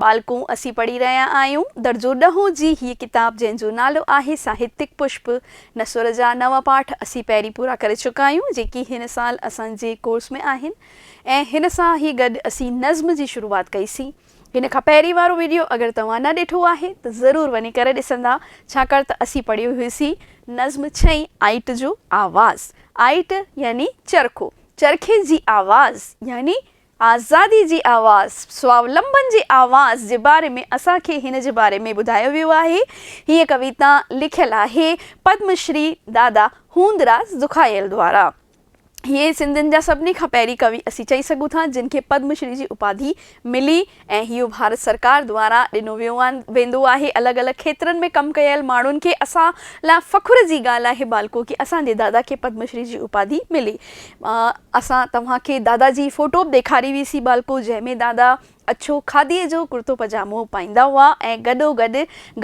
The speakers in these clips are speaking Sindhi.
ٻالڪون، اسين پڙهي رهيا آهيون درجو ڏهون جي هيء ڪتاب جنهن جو نالو آهي ساهتيڪ پشپ. نثر جا نو پاٺ اسين پهرين پورا ڪري چڪا آهيون، جيڪي هن سال اسان جي ڪورس ۾ آهن ۽ هن سان ئي گڏ اسين نظم جي شروعات ڪئي سين. هن کان پهرين وارو وڊيو اگر توهان نه ڏٺو آهي ته ضرور وڃي ڪري ڏسندا، ڇاڪاڻ ته اسين پڙهيو هيوسين نظم ڇهين آئٽ جو آواز. آئٽ يعني چرخو، چرخي جي آواز يعني آزادي جي آواز، سوالمبن جي آواز، جي باري ۾ اسان کي هن جي باري ۾ ٻڌايو ويو آهي. هيء ڪويتا لکيل آهي پدم شري دادا هوندراز دکايل دوارا. هيء سنڌين جا سڀني کان پهرين ڪوي اسين چئي سگهون ٿا جن کي پدم شري جي اپاڌي ملي ۽ ۽ اهو ڀارت سرڪار دواران ڏنو ويو ويندو آهي الڳ الڳ کيترن ۾ ڪم ڪيل ماڻهن کي اسان لاء فخر جي ڳالهه آهي بالڪو ڪي اسان جي دادا کي پدم شري جي اپاڌي ملي اسان توهان کي دادا جي فوٽو به ڏيکاري وي سي بالڪو جنهن ۾ دادا اڇو کاڌي جو ڪرتو پجامو پائيندا هئا ۽ گڏو گڏ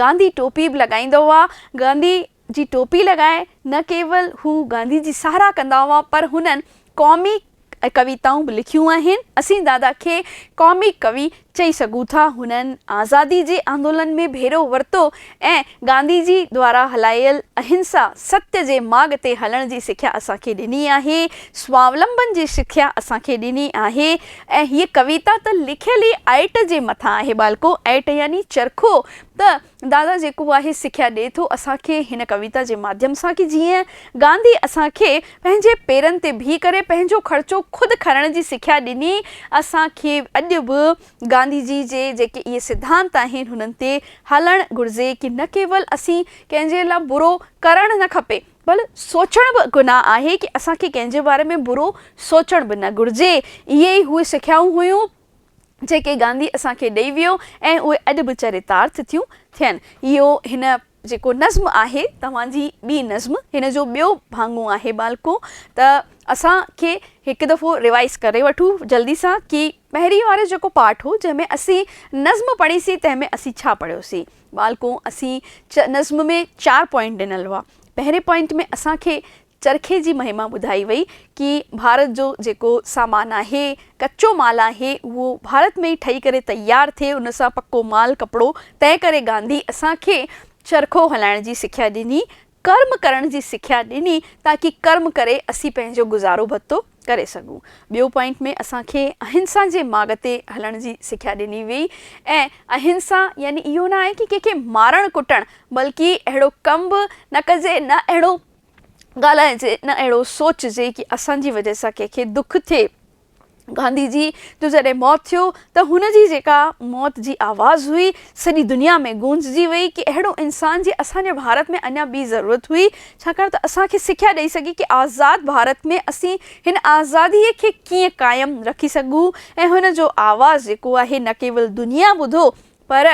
گانڌي ٽوپي به لڳائيندا هئا گانڌي جي ٽوپي لڳائي نه ڪيول هو گانڌي جي ساراهه ڪندا هئا پر هنن قومي ڪويتائون به لکيون آهن. اسين دادا کي قومي ڪوي چئي سگهون ٿا. هنن آزادي جي آندولن ۾ ڀيرو ورتو ۽ گانڌي جي دوارا هلايل اهنسا، ستيا، جي ماڳ تي هلڻ جي سکيا اسان کي ڏني آهي. سوالمبن جي سکيا اسان کي ڏني آهي ۽ هيء ڪويتا ته لکيل ئي ائٽ جي مٿان آهي ٻالڪو، ائٽ يعني چرخو ته دادا جيڪو آهي سکيا ڏي ٿو اسان کي هن ڪويتا جي ماڌيم سان ڪي جيئن گانڌي اسان کي پنهنجي پيرن تي بيهي ڪري پنهنجو خرچو خود کرڻ جي سکيا ڏني اسان کي اڄ به گانڌي جي جي جيڪي اهي سڌانت آهن هنن تي هلڻ گهرجي ڪي نه ڪيول اسين ڪنهن جي لا برو ڪرڻ نه کپي بل سوچڻ به گناهه آهي ڪي اسان کي ڪنهن جي باري ۾ برو سوچڻ به نه گهرجي اهي ئي اهي سکيائون هيون. جيڪي گانڌي اسان کي ڏئي ويو ۽ اهي اڄ به چريتارٿ ٿيون ٿين. اهو هن جيڪو نظم آهي توهان جي ٻي نظم هن جو ٻيو ڀاڱو آهي ٻالڪو ته اسان کي هڪ دفعو ريوائيز ڪري وٺون جلدي سان ڪي پهرين وارو جيڪو پارٽ هو جنهن ۾ اسين نظم پڙهيسين تنهن ۾ اسين ڇا پڙهيوسين ٻالڪو اسين نظم ۾ چار پوائنٽ ڏنل هئا پهرين پوائنٽ ۾ اسان کي چرخي جي مهما ٻڌائي وئي ڪي ڀارت جو جيڪو سامان آهي ڪچو مال آهي اهو ڀارت ۾ ئي ٺهي ڪري تيار ٿئي ان سان پڪو مال ڪپڙو تنهن ڪري گانڌي اسان کي چرخو هلائڻ جي سکيا ڏني ڪرم ڪرڻ جي سکيا ڏني تاڪي ڪرم ڪري اسين پنهنجو گذارو ڀتو ڪري سگهون ٻيو پوائنٽ ۾ اسان کي اهنسا جي ماڳ تي هلڻ جي سکيا ڏني وئي ۽ اهنسا يعني اهو نه آهي ڪي ڪنهن کي مارڻ ڪٽڻ بلڪي اهڙو ڪم به نه ڪجي نه اهڙو ڳالهائجي نه اهڙو سوچجي ڪي اسان جي وجهه سان ڪنهن کي دک ٿئي. گانڌي جي جو جڏهن موت ٿيو ته هن جي جيڪا موت جي آواز هئي سڄي دنيا ۾ گونججي وئي ڪي اهڙو انسان جي اسان جي ڀارت ۾ اڃا ٻي ضرورت هئي ڇاڪاڻ ته اسان کي سکيا ڏئي سگهي ڪي آزاد ڀارت ۾ اسين هن آزادي کي ڪيئن قائم رکي سگهون ۽ هن جو آواز جيڪو آهي نه ڪيول دنيا ٻڌو پر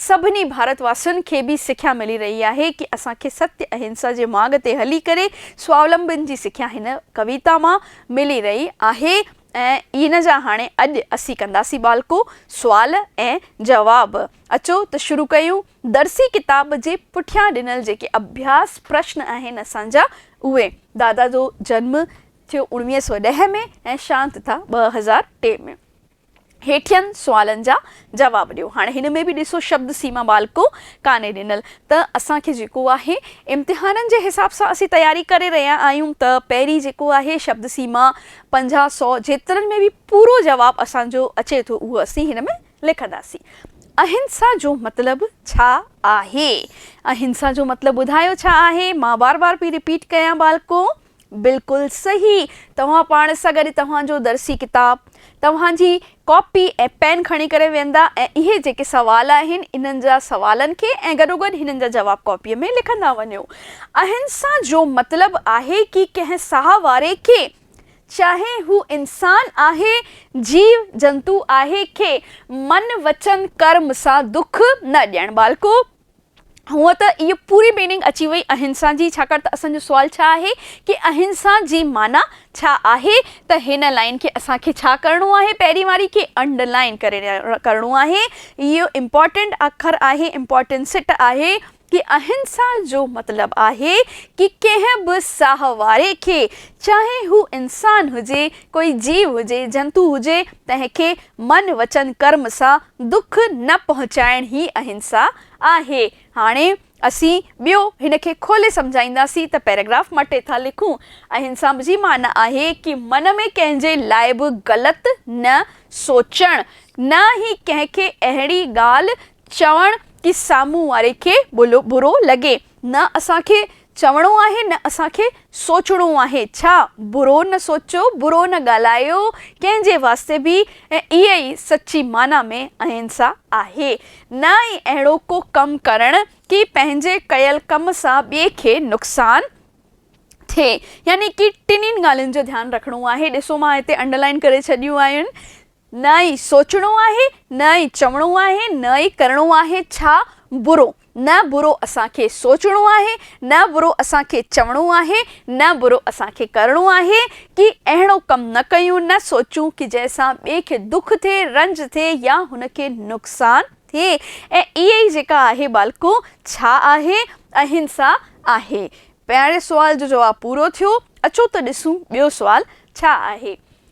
سڀني ڀارت واسين کي به سکيا ملي رهي آهي ڪي اسان کي ستيا اهنسا جي ماڳ تي هلي ڪري سوالمبن جي سکيا هن ڪويتا مان ملي رهي آهي ۽ ان جا هاڻي اڄ اسين ڪنداسين ٻالڪو سوال ۽ جواب اچو ته شروع ڪيون درسي ڪتاب جي پٺيان ڏنل جيڪي اڀياس پرشن آهن اسان جا اهي. دادا جو جنم ٿيو اوڻويهه سؤ ڏهه ۾ ۽ شانت ٿا ٻه هزار ٽي ۾. هيٺين سوالن جا جواب ڏيو. هاڻي هن ۾ به ڏسو شبد سيما بال ڪو ڪانهي ڏنل ته اسان کي جيڪو آهي امتحانن جي حساب سان اسين تياري ڪري رهيا آهيون ته پهرين جيڪو آهي شبد سيما پنجاهه سؤ جيترن ۾ به پورو جواب اسان جو اچي ٿو اهو اسين هن ۾ لکنداسين. اهنسا جو مطلب ڇا آهي؟ اهنسا جو مطلب ٻڌايو ڇا آهي؟ مان بار بار پئي رپيٽ ڪيان بال ڪو. بلڪل صحيح توهان پاڻ سان گڏ توهان جو درسي ڪتاب، توهان جي ڪاپي ۽ پين کڻي ڪري ويندا ۽ اهي جيڪي سوال آهن انهن جا سوالن کي ۽ گڏوگڏ هنن جا جواب ڪاپيء ۾ لکندا وڃو اهن سان جو مطلب آهي ڪي ڪنهن ساهه واري کي چاهي هو انسان آهي جيو جنتو آهي کي من وچن ڪرم سان دک نه ڏيڻ ٻالڪو هونء ته اهي پوري ميننگ اچي وئي اهنسا جي ڇاڪاڻ ته اسان جو سوال ڇا آهي ڪي اهنسا جي معنيٰ ڇا آهي ته هن لائين کي اسان کي ڇا ڪرڻو آهي پهرين واري کي انڊ لائين ڪرڻو آهي اهو امپورٽنٽ اکر آهي امپورٽنسٽ آهي ڪي اهنسا جو مطلب آهي ڪي ڪنهن به ساهه واري کي چاهي هو انسان هجي ڪوئي جيو هجي، جنتو هجي، تنهن کي من وچن ڪرم سان دک نه پهچائڻ هي اهنسا آهي. هاڻي اسين ٻيو هن کي کولي سمجهائينداسين ته پيراگراف مٽي ٿا لکون. اهنسا جي معنيٰ آهي ڪي من ۾ ڪنهن جي لاء به غلط نه سوچڻ، نه هي ڪنهن کي اهڙي ڳالهه چوڻ ڪي سامهون واري کي برو لڳي. نه اسان کي چوڻو آهي نه اسان کي سوچڻو آهي ڇا؟ برو نه سوچيو، برو نه ڳالهايو ڪنهن جي واسطي به ۽ اهي ئي سچي معنيٰ ۾ اهنسا آهي. نه ئي اهڙو ڪو ڪم ڪرڻ ڪي پنهنجي ڪيل ڪم سان ٻئي کي نقصان ٿئي. يعني ڪي ٽنهين ڳالهين جو ڌيان رکڻو آهي. ڏسو مان هتي انڊرلائين ڪري ڇڏيون آهن. نه ئي سوچڻو آهي، نه ئي چوڻو آهي، نه ئي ڪرڻو آهي ڇا برو، نه برو اسان کي سوچڻو آهي، نه برو اسان کي چوڻو آهي، نه برو اسان کي ڪرڻو آهي، ڪي اهڙو ڪم نه ڪيون، نه سوچون ڪي جنهن سان ٻئي کي دک ٿئي، رنج ٿئي يا هن کي نقصان ٿئي ۽ اها ئي جيڪا آهي ٻالڪو ڇا آهي؟ اهنسا آهي. پهرين سوال جو جواب پورو ٿيو، اچو ته ڏسون ٻيو سوال ڇا آهي.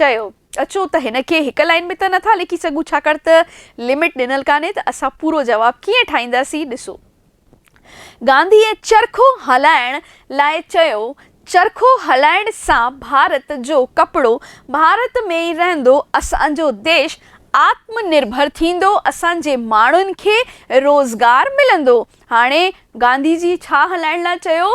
چيو. اچو ته هن کي هڪ لائين ۾ ته نه ٿا لکي سگهون ڇاڪاڻ ته لمٽ ڏنل ڪانهي ته اسان پورو جواب ڪيئن ٺاهينداسين ڏسو. گانڌيء چرخو هلائڻ لاء چيو، چرخو هلائڻ سان ڀارت جو ڪپڙو ڀارت ۾ ئي رهندو، اسان جو ديش آتم نرڀر ٿيندو، اسان جي ماڻهن کي روزگار ملندو، هاڻي گانڌي جي ڇا هلائڻ لاء چيو؟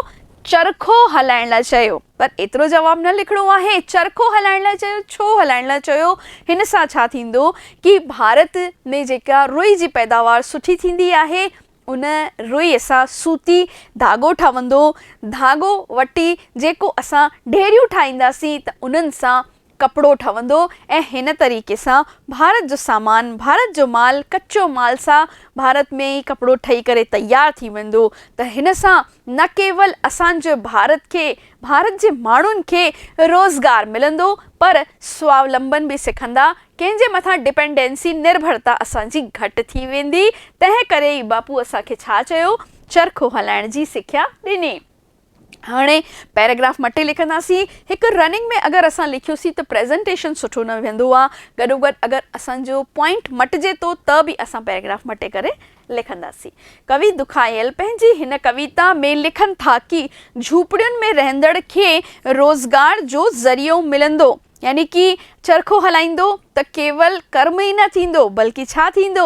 چرخو هلائڻ لاء چيو. پر ايترو جواب نه لکڻو آهي. چرخو هلائڻ لاء چيو، ڇو هلائڻ لاء چيو؟ هن سان ڇا ٿيندو ڪي ڀارت ۾ جيڪا روئي جي پيداوار سٺي ٿيندي آهي، ان روئي سان سوتي ڌاڳو ٺهندو، ڌاڳو وٽي جيڪو اسان ڍيريون ٺاهينداسين ته انهن سان ڪپڙو ٺهندو ۽ هن طريقي سان ڀارت جو سامان، ڀارت جو مال، ڪچو مال سا ڀارت ۾ ئي ڪپڙو ٺهي ڪري تيار ٿي ويندو ته هن سان نه ڪيول اسان جي ڀارت کي، ڀارت جي ماڻهن کي روزگار ملندو پر سوالمبن به سکندا، ڪنهن جي مٿان ڊپنڊنسي، نرڀرتا، اسان جي گهٽ ٿي ويندي، تنهن ڪري ئي باپو اسان کي ڇا چيو، چرخو هلائڻ جي سکيا ڏني. هاڻي پيراگراف مٽي لکنداسين. هڪ رننگ ۾ اگر اسان لکيوسين ته پريزنٽيشن سٺو نه ويهندو آ. گڏوگڏ اگر اسان جو پوائنٽ مٽجي ٿو ته به اسان پيراگراف مٽي ڪري لکنداسين. ڪوي دکايل پنهنجي هن ڪويتا ۾ لکن ٿا ڪي جهوپڙين ۾ رهندڙ کي روزگار جو ذريعو ملندو ۽ يعني ڪي چرخو هلائيندو ته ڪيول ڪرم ئي نه ٿيندو بلڪه ڇا ٿيندو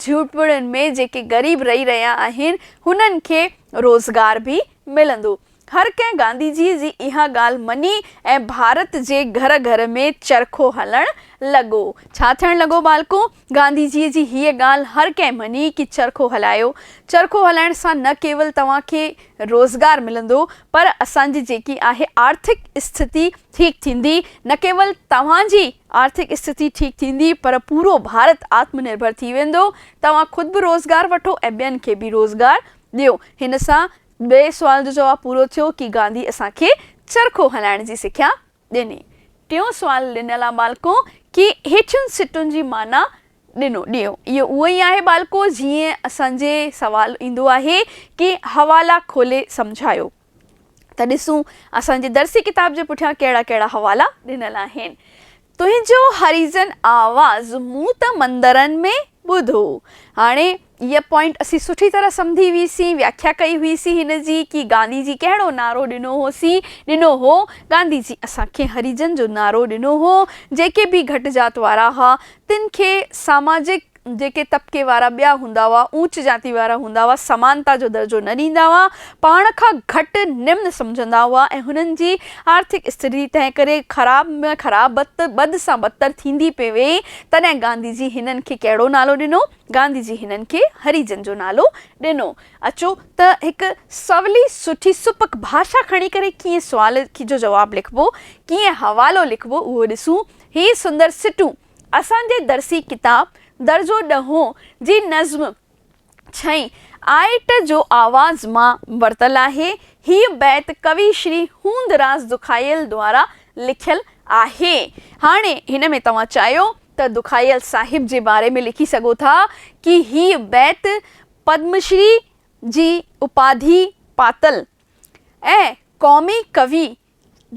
جهوپڙين ۾ جيڪي غريب رهي رهيا آهن هنن کي روزگار به ملندو. هر ڪنهن گانڌي جي جي اها ڳالهه مڃي ۽ ڀارت جي گهر گهر ۾ چرخو هلڻ لڳو. ڇا ٿيڻ لڳو ٻالڪون؟ گانڌي جيء جي هيء ڳالهه هر ڪنهن مڃي ڪي چرخو هلايو، چرخو هلائڻ سان نه ڪيول توهان کي روزگار ملندو پر اسان جي جيڪي آهي آرٿڪ استٿتي ٺيڪ ٿيندي، نه ڪيول توهان جي آرٿڪ استٿتي ٺيڪ ٿيندي پر پورو ڀارت آتم نرڀر ٿي ويندو، توهان خود به روزگار وٺو ۽ ٻين کي به روزگار ڏيو. هن سان ٻئي سوال جو جواب پورو ٿيو ڪي گانڌي اسان کي چرخو هلائڻ جي سکيا ڏني. ٽيون سوال ڏنل آ ٻالڪو ڪي هيٺين سٽن جي معنيٰ ڏنو ڏيو. اهو اهو ئي آهي ٻالڪو جيئن اسان جي سوال ايندو آهي ڪي حوالا کولي سمجهايو ته ڏسون اسان جي درسي ڪتاب جي پٺيان ڪهڙا ڪهڙا حوالا ڏنل آهن. تنهنجو هريزن آواز مون ته مندرن ۾ ٻڌو. هاڻي اها پوائنٽ اسين سٺي طرح سمجهي هئيسين، وياکيا ڪئي هئيسين هن جي ڪي گانڌي جي ڪهڙو نعرو ڏنو هوسين، ڏنو هو، گانڌي جي اسان کي هريجن جو نعرو ڏنو هو، جيڪي به گهٽ ذات وارا ها، تن کي ساماجڪ جيڪي طبقي وارا ٻيا هوندا هئا، اوچ ذاتي وارا هوندا هئا، سمانتا جو درجو نه ڏيندا هئا، پاڻ کان گهٽ نمن سمجهندا هئا ۽ هنن جي آرٿڪ استري تنهنڪري خراب ۾ خراب، بد سان بدتر ٿيندي پئي ويئي، تڏهن گانڌي جي هنن کي ڪهڙو نالو ڏنو؟ گانڌي جي هنن کي هري جن جو نالو ڏنو. اچو ته هڪ سولي سٺي سپڪ ڀاشا کڻي ڪري ڪيئن سوال جو جواب لکبو، ڪيئن حوالو لکبو اهو ڏسون. هي سندر سٽون اسان جي درسي ڪتاب درجو ڏهون جي نظم ڇهين آئٽ جو آواز مان ورتل آهي. هيء بيت ڪوي شري هوندراز دکايل دوارا لکيل آهي. هاڻي هن ۾ توهان چاهيو ته دکايل صاحب جي باري ۾ لکي سگهو ٿا ڪي هي بيت پدم شري جي اپاڌي پاتل ۽ قومي ڪوي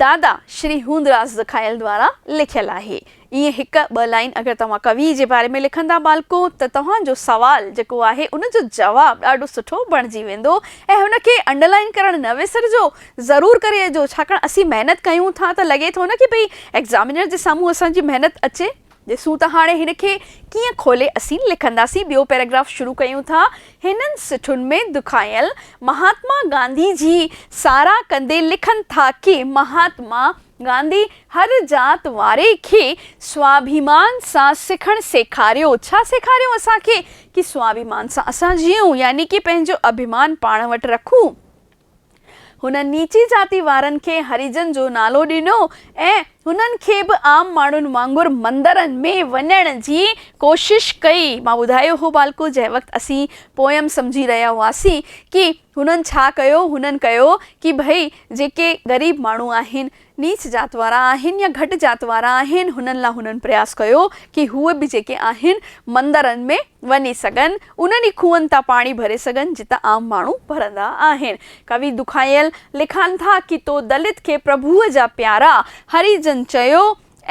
دادا شري هوندراز دکايل دوارا لکيل آهي. ائين هڪ ٻه لائين اگر توهان ڪوي جي باري ۾ لکندا ٻالڪو ته توهان جو سوال جيڪو آهي ان جو جواب ڏاڍو سٺو بڻجي ويندو ۽ هن کي انڊرلائين ڪرڻ نه وسرجو ضرور ڪري اچجو ڇاڪاڻ اسين محنت ڪيون ٿا ته لڳي ٿو نه ڪي ڀئي ايگزامينر جي سامهون اسان جي محنت اچي ڏسون ته هاڻي هن کي ڪيئن کولي اسين لکنداسين ٻيو پيراگراف شروع ڪيون ٿا هنن سٽن ۾ دکايل مهاتما گانڌي جي ساراهه ڪندي لکن ٿا ڪي مهاتما گانڌي هر ذات واري کي سواڀيمان سان سکڻ سيکاريو ڇا سيکاريو اسان کي ڪي سواڀيمان سان اسان جيئون يعني ڪي پنهنجو اڀيمان پاڻ وٽ رکون. هن نيچي ذاتي وارن کي هريجن جو نالو ڏنو ۽ هنن کي به عام ماڻهن وانگر مندرن ۾ وڃڻ جي ڪوشش ڪئي. مان ٻڌايو هو ٻالڪو جنهن وقت اسين پوئم سمجهي رهيا هئاسين ڪي هنن ڇا ڪيو هنن ڪيو ڪي ڀئي جيڪي غريب ماڻهو آهن نيچ ذات وارا آهن يا گهٽ ذات وارا آهن هنن لا هنن پرياس ڪيو ڪي هو به جيڪي آهن مندرن ۾ وڃي سگهن انهن ئي کوهن تان پاڻي ڀري سگهن جتان عام ماڻهو ڀرندا آهن ڪوي دکايل لکان ٿا ڪي تو دلت کي پرڀوء جا پيارا هري جن چيو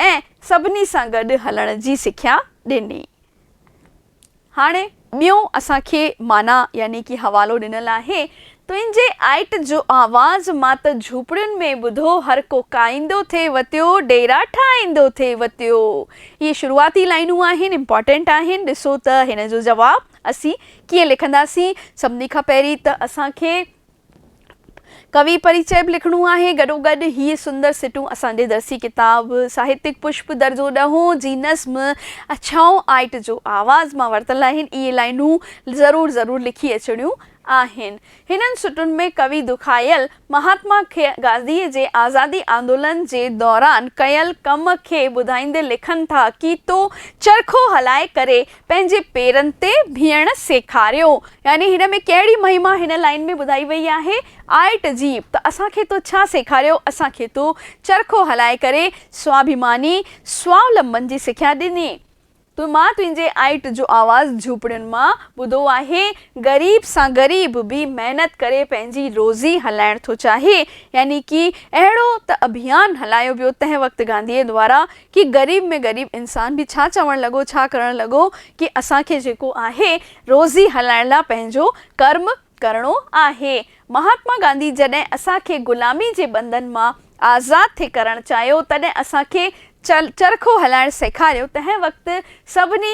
۽ سڀني سان گڏ هلڻ جي سکيا ڏني. هاڻي ٻيون اسان کي معنيٰ يعني ڪي حوالو ڏنل آهي، تنهنجي آئٽ جو آواز مان ته جهوپڙين ۾ ٻڌو هر ڪو ڪائيندو ٿي وتيو ڊيرا ٺاهيندو ٿي وتيو اهي شروعاتي لائينون آهن امپارٽينٽ آهن ڏسو ته هن جو جواب اسين ڪيئن لکنداسين سڀني کان پهرين ته اسان کي ڪوي پريچئه به لکڻو آهي. گڏوگڏ هي سندر سٽون اسان جي درسي ڪتاب ساهتڪ پشپ درجو ڏهون جي نظم اڇائو آئٽ جو آواز مان ورتل آهن. اهي لائنون ضرور ضرور لکي اچڻيون آهن. هنن سٽن ۾ ڪوي دکايل مهاتما گانڌيء جي آزادي آندولن جي دوران ڪيل ڪم کي ٻڌائيندي لکن ٿا، ڪيتو چرخو هلائي ڪري پنهنجي پيرن تي بيهڻ سيکاريو يعني هن ۾ ڪهڙي مهما هن لائين ۾ ٻڌائي وئي آهي آئٽ جي ته اسان کي تو ڇا سيکاريو اسان کي تو چرخو هلائي ڪري سواڀيماني سوالمبن جي سکيا ڏني تو مان تنهنجي آئٽ جو آواز جهوپڙين مان ٻڌو آهي غريب سان غريب به محنت ڪري پنهنجي روزي هلائڻ ٿو چاهي يعني ڪي اهڙو ته اڀيان هلايو ويو تنهن وقت گانڌي دوارا ڪي غريب ۾ غريب انسان به ڇا چوڻ لڳو ڇا ڪرڻ لڳو ڪي اسان کي جيڪو آهي روزي هلائڻ لا پنهنجو ڪرم ڪرڻو آهي مهاتما گانڌي جڏهن اسان کي غلامي جي بندن مان آزاد ٿي ڪرڻ چاهيو تڏهن اسان کي چرخو هلائڻ سيکاريو تنهن وقت سڀني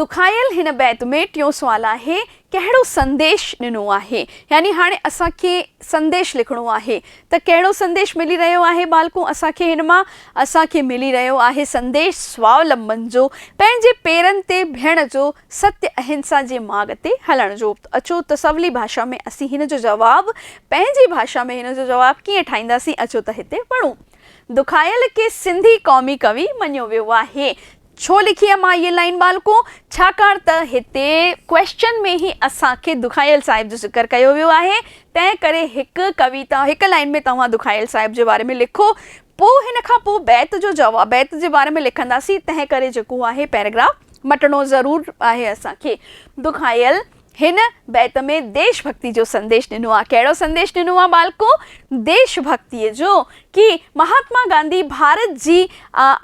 دکايل هن بيت ۾ ٽيون سوال آهي، ڪهڙو سنديش ڏنو آهي؟ يعني هاڻي اسان کي سنديش لکڻو آهي ته ڪهڙو سنديش ملي رهيو آهي ٻالڪو اسان کي هن مان؟ اسان کي ملي رهيو آهي سنديش سوالمبن جو، پنهنجي پيرن تي بيهڻ جو، ستيا اهنسا جي ماڳ تي هلڻ جو. اچو ته سولي ڀاشا ۾ اسين هن جو جواب پنهنجي ڀاشا ۾ هن جو جواب ڪيئن ٺاهينداسين اچو ته هتي پڙهون. دکايل کي سنڌي قومي ڪوي مڃيو ويو آهي. ڇو لکي آ مان هيء لائين ٻالڪو؟ ڇاڪاڻ ته هتي Question ۾ ئي اسان کي دکايل صاحب جو ذڪر ڪيو ويو آهي، تنهن ڪري هڪ ڪويتا، هڪ لائين ۾ توهان دکايل صاحب جي باري ۾ لکو، پوء ان کان پوء بيت جو جواب بيت جي باري ۾ لکنداسين، تنهن ڪري جيڪو آهي Paragraph مٽڻو ضرور آهي اسان کي دکايل هن بيت ۾ ديش ڀڳتي جو سنديش ڏنو آهي. ڪهڙو سنديش ڏنو آهي ٻالڪو؟ ديش ڀڳتيء جو، ڪي مهاتما گانڌي ڀارت جي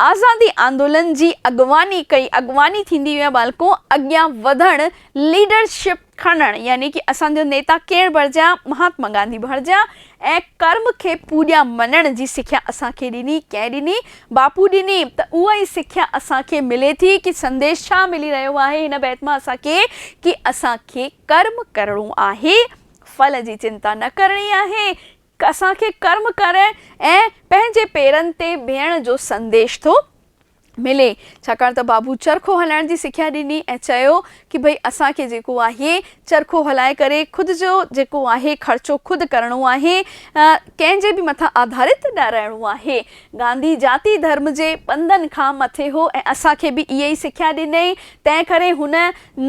آزادي آندولن جي اڳواڻي ڪئي، اڳواڻي ٿيندي هئي ٻالڪو اڳيان وڌڻ، ليڊر شپ کڻڻ يعني ڪي اسان جو نيتا ڪير بڻجي ها؟ مهاتما گانڌي بڻجي ها، ۽ ڪرم کي پوڄا مڃڻ جي سکيا اسان کي ڏني، ڪنهن ڏني؟ باپو ڏني، ته اها ئي سکيا اسان کي ملي ٿي، ڪي سنديش ڇا ملي رهيو آهي هن بيت مان اسان کي؟ ڪي اسان کي ڪرم ڪرڻو آهي، ڦل جي چنتا نه ڪرڻي آهي، اسان کي ڪرم ڪرڻ ۽ پنهنجي پيرن تي بيهڻ جو سنديش ٿو. ملي ڇاڪاڻ ته بابو چرخو هلائڻ جي سکيا ڏني ۽ چيو ڪي ڀئي اسان کي جيڪو آهي چرخو هلائي ڪري خود جو جيڪو آهي خرچو خود ڪرڻو آهي ڪنهن جي به مٿان آڌارت نه رهڻو آهي گانڌي جاتي ڌرم جي پنڌن کان مٿي هو ۽ اسان کي به اهي ئي سکيا ڏنئي تنهن ڪري هن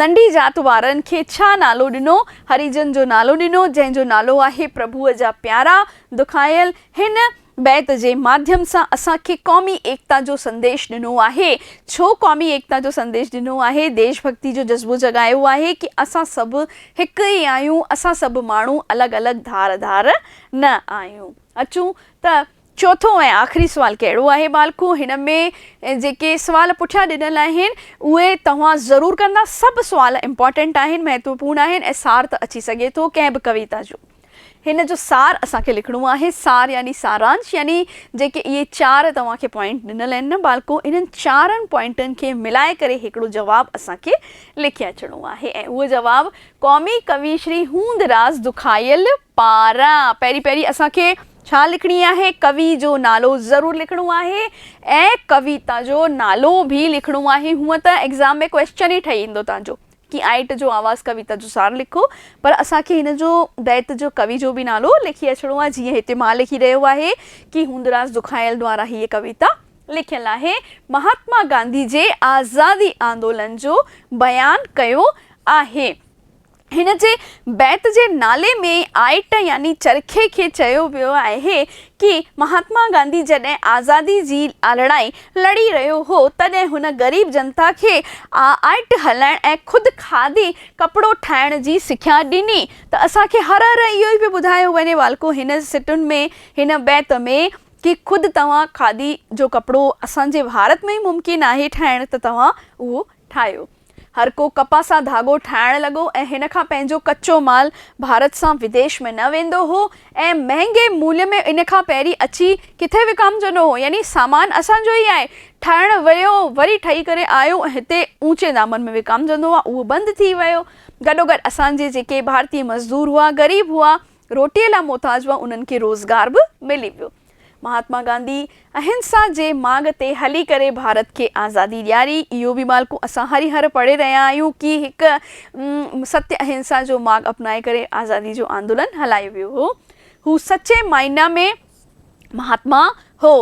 ننڍي جات وارن کي ڇا نالو ڏنو هريجن جو نالو ڏنو جنهن جو نالو آهي پرڀوء جا پيارا دکايل هن بيت جي ماڌيم سان اسان کي قومي ايڪتا جو سنديش ڏنو آهي. ڇو قومي ايڪتا جو سنديش ڏنو آهي؟ ديش ڀڳتي جو جذبو جڳايو آهي ڪي اسان سڀ هڪ ئي آهيون، اسان سڀ ماڻهو الڳ الڳ ڌار ڌار نه آهيون. اچون ته چوٿون ۽ آخري سوال ڪهڙو آهي ٻالڪو؟ هن ۾ جيڪي سوال پٺيان ڏنل آهن اهي توهان ضرور ڪندا. سڀ سوال امپارٽنٽ آهن، مهتوپورن آهن ۽ سار ته اچي سگهي ٿو ڪنهن به ڪويتا جو. هن جو سار اسان کي لکڻو آهي، سار يعني سارانش يعني جيڪي اهي چار توهان کي پوائنٽ ڏنل آهن نه ٻالڪو انهن چارن پوائنٽن کي ملائي ڪري هڪڙو جواب اسان کي لکي اچڻو آهي ۽ اهو جواب قومي ڪوي شري هوندراز دکايل پاران پهرين پهرين اسان کي ڇا لکڻي آهي ڪوي جو نالو ضرور لکڻو آهي ۽ ڪويتا جو نالو به لکڻو آهي هونئن ته ايگزام ۾ ڪويسچن ئي ٺهي ايندو تنهنجو ڪي آئٽ جو آواز ڪويتا جو سار لکو پر اسان کي هن جو بيت جو ڪوي جو به نالو لکي اچڻو آهي جيئن هتي مان لکي رهيو آهي ڪي هوندراز دکايل دوارا هيء ڪويتا لکيل آهي مهاتما گانڌي جي آزادي آندولن جو بيان ڪيو آهي هن جي بيت جي نالي ۾ آئٽ يعني چرخي کي چيو ويو آهي ڪي مهاتما گانڌي جڏهن آزادي جي آلڙائي لڙي رهيو هو تڏهن هن غريب جنتا کي آئٽ هلائڻ ۽ خود کاڌي ڪپڙو ٺاهڻ جي سکيا ڏني ته اسان کي هر هر اهو ئي پيو ٻڌايو وڃي والڪو هن سٽن ۾ هن بيت ۾ ڪي خود توهان کاڌي جو ڪپڙو اسان جي ڀارت ۾ ئي ممڪن آهي ٺاهڻ ته توهان اهو ٺاهيو. هر ڪو ڪپهه سان ڌاڳو ٺاهڻ لڳو ۽ هن کان پنهنجو ڪچو مال ڀارت سان وديش ۾ نه ويندو هو ۽ مهنگي موليه ۾ ان کان پهرين اچي ڪٿي وڪامجندو هو يعني سامان اسان جو ئي آهي ٺاهڻ ويو وري ٺهي ڪري آيو ۽ هتي اوچي دامن ۾ وڪامجندو هو اهو بند ٿي ويو گڏوگڏ اسان جي جيڪي ڀارتي مزدور هئا غريب هئا روٽيء لاء محتاج هئا، انهن کي روزگار به ملي ويو. مهاتما گانڌي اهنسا جي ماڳ تي هلي ڪري ڀارت کي آزادي ڏياري. اهو به مالڪو اسان هري هر پڙهي رهيا آهيون ڪي هڪ ستيه اهنسا جو ماڳ اپنائي ڪري آزادي جو آندولن هلايو ويو هو. هو سچي معنيٰ ۾ مهاتما هو.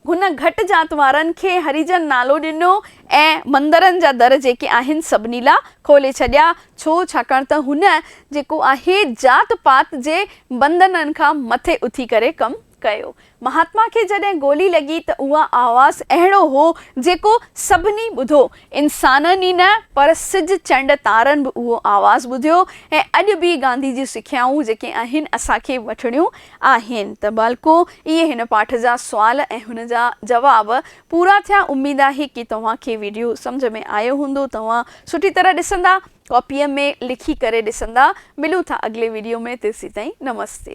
هن گهٽ ذات وارن کي هريجن نالو ڏنو ۽ مندرن جا در جيڪي آهن سڀني لا کولي ڇڏيا. ڇو؟ ڇاڪاڻ ته هن جيڪو آهي ذات پات جي بندنن کان مٿي اٿي ڪري ڪم ڪيو. مهاتما کي جڏهن گولي لڳي ته اها آواز اهڙو هو جيڪو سڀني ٻڌو. انسانن ئي نه پر سج چنڊ تارن به اهو آواز ٻڌيو ۽ اڄ به گانڌي جون سکيائون جيڪي آهن اسان کي وٺڻيون آهن ته ڀلڪو اهي هن پاٺ جا سوال ۽ هن جا جواب پورا ٿيا اميد آهي ڪي توهان کي ويڊيو سمجهه ۾ آيو هوندو توهان سٺي طرح ڏسندا ڪاپيء ۾ لکي ڪري ڏسندا ملون ٿا اڳلي ويڊيو ۾ تيسيتائين نمستي.